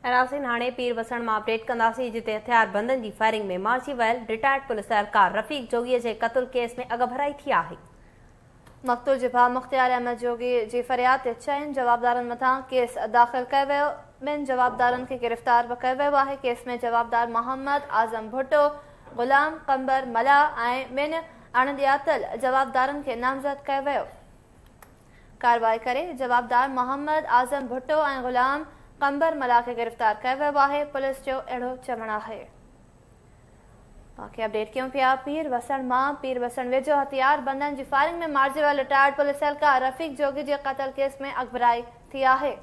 ۽ ناظرين هاڻي پير وسڻ مان اپڊيٽ ڪنداسين جتي هٿيار بندن جي فائرنگ ۾ مارجي ويل رٽائرڊ پوليس اهلڪار رفيق جوڳي جي قتل ڪيس ۾ اڳڀرائي ٿي آهي. مقتول جي ڀاء مختيار احمد جوڳي جي فرياد تي چئن جوابدارن مٿان ڪيس داخل ڪيو ويو، ٻن جوابدارن کي گرفتار به ڪيو ويو آهي، ڪيس ۾ جوابدار محمد اعظم ڀٽو، غلام قمبر ملاح ۽ ٻن اڻ ڄاتل جوابدارن کي نامزد ڪيو ويو. ڪارروائي ڪري جوابدار محمد اعظم ڀٽو ۽ غلام قنبر ملاح کي گرفتار ڪيو ويو آهي، پوليس جو اهڙو چوڻ آهي. باقي اپڊيٽ ڪيون پيا پير وسڻ مان پير وسڻ ويجهو هٿيار بندن جي فائرنگ ۾ مارجي ويل رٽائرڊ پوليس اهلڪار رفيق جوڳي جي قتل ڪيس ۾ اڳڀرائي ٿي آهي.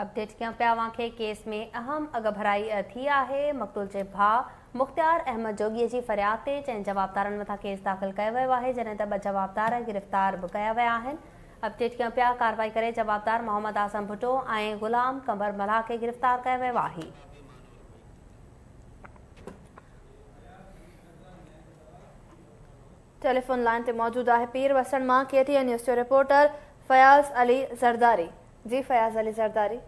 اپڊيٽ ڪيان پيا اوهان کي ڪيس ۾ اهم اڳڀرائي ٿي آهي مقتول جي ڀاء مختيار احمد جوڳي جي فرياد تي چئن جوابدارن مٿان ڪيس داخل ڪيو ويو آهي جڏهن ته ٻه جوابدار گرفتار به ڪيا ويا آهن اپڊيٽ ڪيان پيا ڪارروائي ڪري جوابدار محمد اعظم ڀٽو ۽ غلام قمر ملاح کي گرفتار ڪيو ويو آهي. ٽيليفون لائين تي موجود آهي پير وسڻ مان ڪي ٽي اين نيوز جو رپورٽر فياض علي زرداري. جي فياض علي زرداري.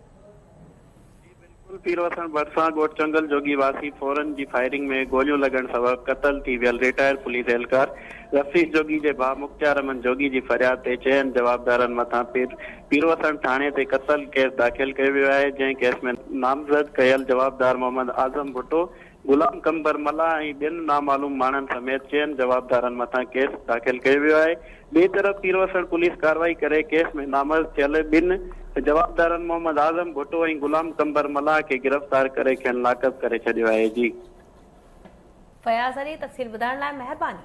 جي بلڪل پير وسڻ ڀٽسان ڳوٺ چنگل جوڳي واسي ڦورن جي فائرنگ ۾ گوليون لڳڻ سبب قتل ٿي ويل ريٽائر پوليس اهلڪار رفيق جوڳي جي ڀاء مختيار احمد جوڳي جي فرياد تي چئن جوابدارن مٿان پيروسڻ ٿاڻي تي قتل ڪيس داخل ڪيو ويو آهي جنهن ڪيس ۾ نامزد ڪيل جوابدار محمد اعظم ڀٽو غلام قنبر ملاح ۽ ٻين نامعلوم ماڻهن سميت چئن جوابدارن مٿان ڪيس داخل ڪيو ويو آهي، ٻئي طرف پيروسر پوليس ڪارروائي ڪري ڪيس ۾ نامرد ٿيل ٻن جوابدارن محمد اعظم ڀٽو ۽ غلام قنبر ملاح کي گرفتار ڪري کين لاڪ اپ ڪري ڇڏيو آهي جي. فياض علي تفصيل ٻڌائڻ لاء مهرباني.